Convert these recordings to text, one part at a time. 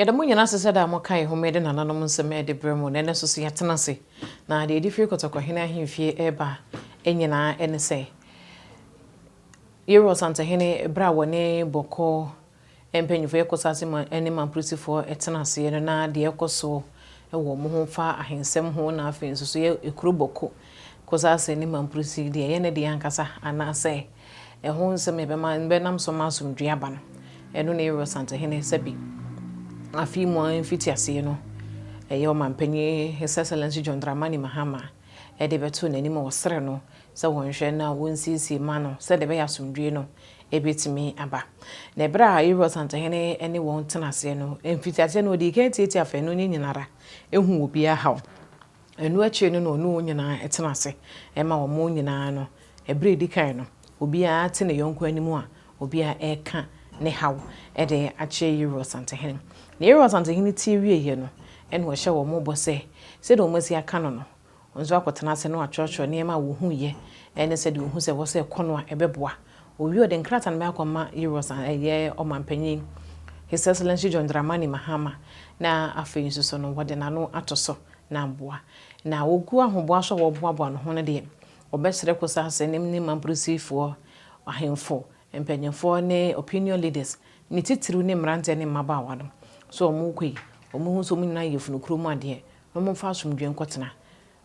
Yɛda mo nyinaa ase sɛ daa moka yɛn ho ma yɛde nananom nsɛm de brɛ mo, na ɛnnɛ nso so yɛatena ase. Na deɛ ɛde firi Kɔtɔkɔhene ahemfie reba nyinaa ne sɛ, Yerɔ Ɔsantehene berɛ a wɔne Bɔkɔ mpanyimfoɔ yɛ kosase mu ne Mamprosifoɔ tena aseɛ no na deɛ ɛrekɔ so wɔ wɔn ho fa ahensɛm ho na afei nso so yɛ kuro Bɔkɔ kosase ne Mamprosi deɛ ɛyɛ ne deɛ ankasa anaasɛ ɛho nsɛm ɛbɛma bɛnam so ma asomdwe aba no ɛno na Yerɔ Santehene sɛbi afei mu a mfiti aseɛ no ɛyɛ ɔmanpanyin His Excellency John Dramani Mahama ɛde bɛto n'anim wɔ serɛ no sɛ wɔnhwɛ na wɔnsiesie ma no sɛdeɛ ɛbɛyɛ a asomdwoeɛ no bɛtumi aba. Na berɛ a Yeriko asantehene ne wɔn tena aseɛ no, mfitiaseɛ no ɔdii kan tiatia afanu no nyina ara, huu obiara haw. Ɛno akyire no na ɔne wɔn nyina ara tena ase, ɛma wɔn nyina ara no, berɛ a ɛdi kan no, obiara te ne yɔnko anim a obiara reka ne haw de akyerɛ Yeriko asantehene. Na Yeriko asantehene tie wieeɛ no, ɛna ɔhyɛ wɔn bɔ sɛ, sɛdeɛ wɔasi aka no no, Wɔn nso akɔtena ase na wɔatwerɛtwerɛ nneɛma a wɔhuiɛ ne sɛdeɛ wɔhu sɛ ɛwɔ sɛ ɛkɔ no a ɛbɛboa. Ɔwie a ɔde nkrataa no bɛyɛ akɔma Euros a ɛyɛ ɔmanpanin, His Excellency John Dramani Mahama, na afei nso so no wɔde n'ano ato so na aboa. Na wɔgu ahoboa so a wɔboaboa no ho no deɛ, wɔbɛkyerɛ Kosa Asenim ne Mamprosifoɔ, ahemfo, mpanimfoɔ ne opinion leaders, ne titiriw ne mmeranteɛ ne mmabaawa no. So wɔn rekɔ yi, wɔhu sɛ wɔn nyinaa yɛ yafunu kuro mu adeɛ, No mu mfa asomdwoe nkɔtena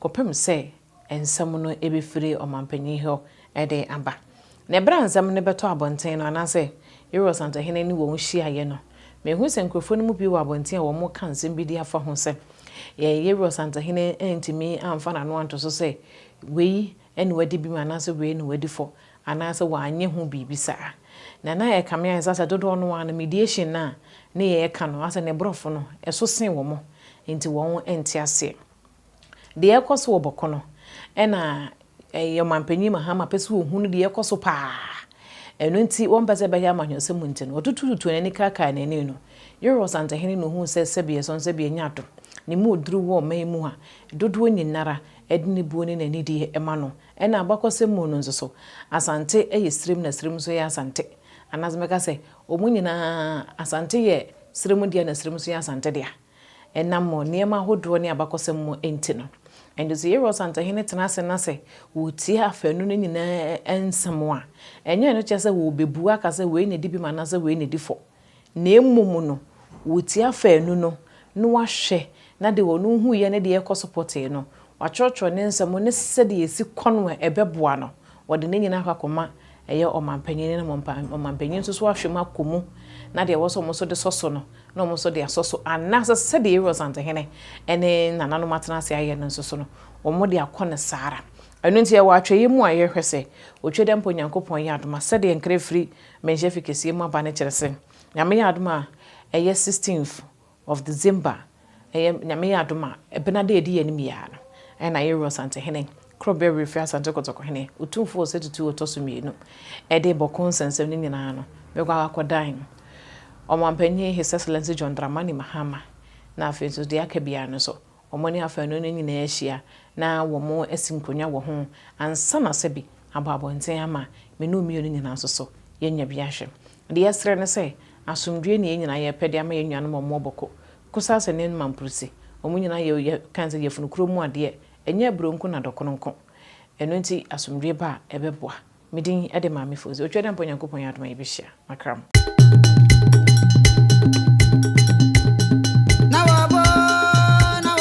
kɔpem sɛ nsɛm no bɛfiri ɔmampanyin hɔ de aba. Na ɛberɛ a nsɛm no bɛtɔ abɔnten no, anaasɛ Yeriko asantehene ne wɔn hyiaeɛ no, mehu sɛ nkurɔfoɔ no mu bi wɔ abɔnten a wɔreka nsɛm bi de afa ho sɛ, Yɛn Yeriko asantehene antumi amfa n'ano anto so sɛ, Wei ne w'adibim anaasɛ Wei ne w'adifɔ, anaasɛ wanyɛ ho biribi saa. Na na ɛkame ayɛ sɛ asɛ dodoɔ no ara no mediation no a ne yɛɛka no asɛ ne brɔfo no ɛso see wɔn nti wɔn nte aseɛ deɛ ɛɛkɔ so wɔ bɔko no ɛna yɛ ɔmanpanyin Mahama pɛ sɛ ɔhunu deɛ ɛɛkɔ so paa ɛno nti wɔn pɛ sɛ ɛbɛyɛ amanyɔsɛm nti no ɔtutututu n'ani kaakaa n'ani no Yoro Ɔsantehene no huu sɛ sɛbi ɛsɔn sɛbi ɛnyɛ adom ne mu oduru wɔ ɔman mu a dodoɔ nyinara ɛde ne buo ne n'anidie ɛma no Nna abakɔsɛm mu no nso so, Asante yɛ serem na serem nso yɛ Asante. Anaasɛ mɛka sɛ, wɔn nyinaa, Asante yɛ serem dea na serem nso yɛ Asante dea. Ɛnam nneɛma ahodoɔ ne abakɔsɛm mu nti no. Ɛnti sɛ yɛrewɔ Asantehene tena ase na sɛ wɔretie afanu no nyinaa nsɛm a, ɛnyɛ ɛno kyerɛ sɛ wɔrebɛbu aka sɛ wei na ɛdi bem anaasɛ wei na ɛdi fɔ. Na mmom no, wotia faanu no na wɔahwɛ na deɛ ɔno huiɛ ne deɛ ɛkɔ so pɔtee no, wɔatwerɛtwerɛ ne nsɛm ne sɛdeɛ ɛsi kɔ no a ɛbɛboa no, wɔde ne nyinaa akɔ akɔma ɛyɛ ɔmanpanin no na ɔmanpanin nso so ahwɛ mu akɔ mu na deɛ ɛwɔ sɛ wɔn nso de sɔ so no na wɔn nso de asɔ so anaasɛ sɛdeɛ Aaron Santehene ne nananom atena ase ayɛ no nso so no, wɔde akɔ no saa ara. Ɛno nti, yɛwɔ atwɛeɛ mu a yɛhwɛ sɛ, otwa dɛ mpo Nyankopɔn yɛ adom a sɛdeɛ nkra firi Menhyɛ fi kɛseɛ mu aba no kyerɛ sɛ Nyame yɛ adom a ɛyɛ 16th of December ɛyɛ Nyame yɛ adom a ɛbena dɛ ɛdi yɛn anim yi ara no ɛna Yero Asantehene koro bɛwere firi Asante Kɔtɔkɔhene Otumfoɔ Ɔsatutuo ɔtɔ so mmienu ɛde bɔko nsɛnsɛm no nyinaa no bɛkɔ akɔ dan Ɔmanpanyin His Excellency John Dramani Mahama na afei nso deɛ aka biara no nso Wɔne afanu no nyinaa ahyia na wɔasi nkonnwa wɔ ho ansa na Sɛbi abɔ abɔnten ama me ne wo mmienu nyinaa nso so yɛanya bi ahwɛ. Deɛ yɛsrɛ ne sɛ, asomdwoeɛ ne yɛn nyinaa yɛpɛ de ama yɛn nuanom a wɔwɔ Boko, Kusase ne Mamprusi. Wɔn nyinaa yɛ, yɛka no sɛ, yafunu kuro mu adeɛ, ɛnyɛ aburo nko na dɔkono nko. Ɛno nti asomdwoeɛ ba a, ɛbɛboa. Me din de Maame Fozi. Otwadeɛ ampa Onyankopɔn yɛ adom a yɛbɛhyia. Makram.